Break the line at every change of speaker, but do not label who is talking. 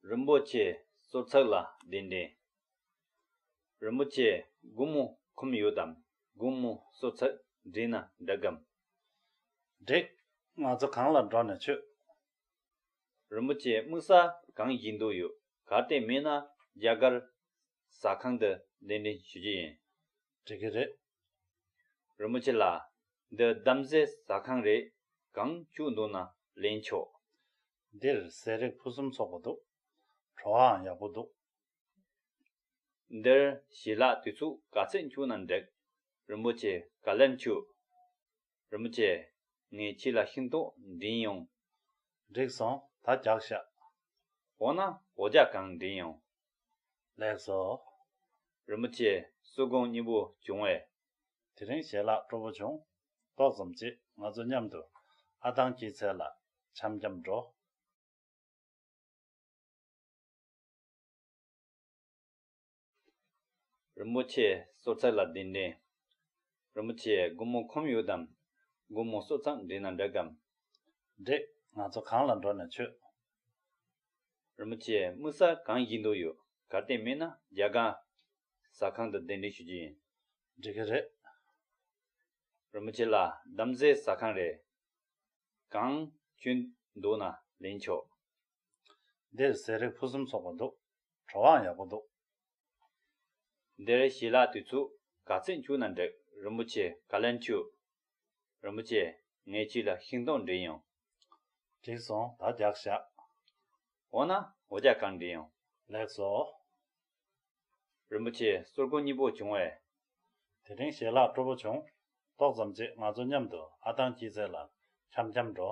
རིན་པོ་ཆེ་གསོལ་ཚགས་ལ་གདན་འདྲེན། རིན་པོ་ཆེ་སྒོ་མོ་ཁུམ་ཡོད་དམ་སྒོ་མོ་གསོལ་ཚགས་འདྲེན་ན་འགྲིག་གམ།
འགྲིག། ང་ཚོ་གང་ལ་འགྲོ་ནས་མཆོད། རིན་པོ་ཆེ་
དམིགས་ས་གང་ཞིག་འདུག་ཡོད་གར་དེ་མེད་ན་རྒྱ་གར། ཟ་ཁང་དུ་གདན་འདྲེན་ཞུ་རྒྱུ་ཡིན། འགྲིག་གི་རེད། རིན་པོ་ཆེ་ལགས། འདི་གདམ་གསེས་ཟ་ཁང་རེད། གང་བཅུག་འདུག་ན་ལེན་ཆོག། འདིར་
ཟས་རིགས་ཕུན་སུམ་ཚོགས་པ་འདུག། བྲོ་བའང་ཡག་པོ་འདུག།
འདིར་ཞི་ལག་དུས་ཚུགས་ག་ཚད་འཁྱུག་ན་འགྲིག། རིན་པོ་ཆེ་ག་ལེར་འཁྱུག། རིན་པོ་ཆེ། ངས་ཁྱེད་ལ་ཤིང་ཏོག་འདྲིན་ཡོང། འགྲིག་སོང་
ད་རྒྱག་ཤག། འོ་ན་
འོ་ཅག་གང་འདྲིན་ཡོང། ལེགས་སོ།
རིན་པོ་
ཆེ་སུ་དགོངས་གཉིས་པོ་བྱུང་བས། དེ་རིང་ཞལ་
ལག་སྤྲོ་བོ་བྱུང། ཏོག་ཙམ་གཅིག་ང་ཚོ་མཉམ་དུ། ཨ་ཐང་སྐྱིད་ཚལ་ལ་འཆམ་འཆམ་འགྲོ།
རིན་པོ་ཆེ་གསོལ་ཚད་ལ་བདེན་འདྲེན། རིན་པོ་ཆེ་སྒོར་མོ་ཁོམ་ཡོད་དམ། སྒོར་མོ་གསོལ་ཚགས་འདྲེས་ན་འགྲིག་གམ། འགྲིག།
ང་ཚོ་གང་ལ་འགྲོ་ན་ཆོད། རིན་པོ་ཆེ་
དམིགས་ས་གང་བཞེས་འདོད་ཡོད་གར་བསྟན་མེད་ན་རྒྱ་གར། ཟ་ཁང་དུ་གདན་འདྲེན་ཞུ་རྒྱུ་ཡིན། འགྲིག་གི་རེད། རིན་པོ་ཆེ་ལ་གདམ་གསེས་ཟ་ཁང་རེ་གང་བྱོས་འདུག་ན་ལེན་ཆོག།
འདིར་ཟས་རིགས་ཕུན་སུམ་ཚོགས་པ་འདུག། དྲོ་བའང་ཡག་པོ་འདུག།
འདིར་ཞི་ལ་དུས་ཚུགས་ག་ཚད་འཁྱུག་ན་འགྲིག་རིན་པོ་ཆེ་ག་ལེར་འཁྱུག། རིན་པོ་ཆེ་ངས་ཁྱི་ལ་ཤིང་སྡོང་འབྲི་ཡོང། འགྲིག་སོང་
ད་རྒྱག་བཞག། འོ་ན་
འོ་རྒྱག་གང་འབྲི་ཡོང། ལེགས་སོ།
རིན་པོ་
ཆེ་གསུར་དགུ་གཉིས་པོ་བྱུང་བས། དེ་
རིང་ཞལ་ལག་སྤྲོ་པོ་བྱུང། ཏོག་ཙམ་རྗེས་ང་ཚོ་མཉམ་དུ་ཨ་ཐང་སྐྱིད་ཚལ་ལ་འཁྱམ་འཁྱམ་འགྲོ།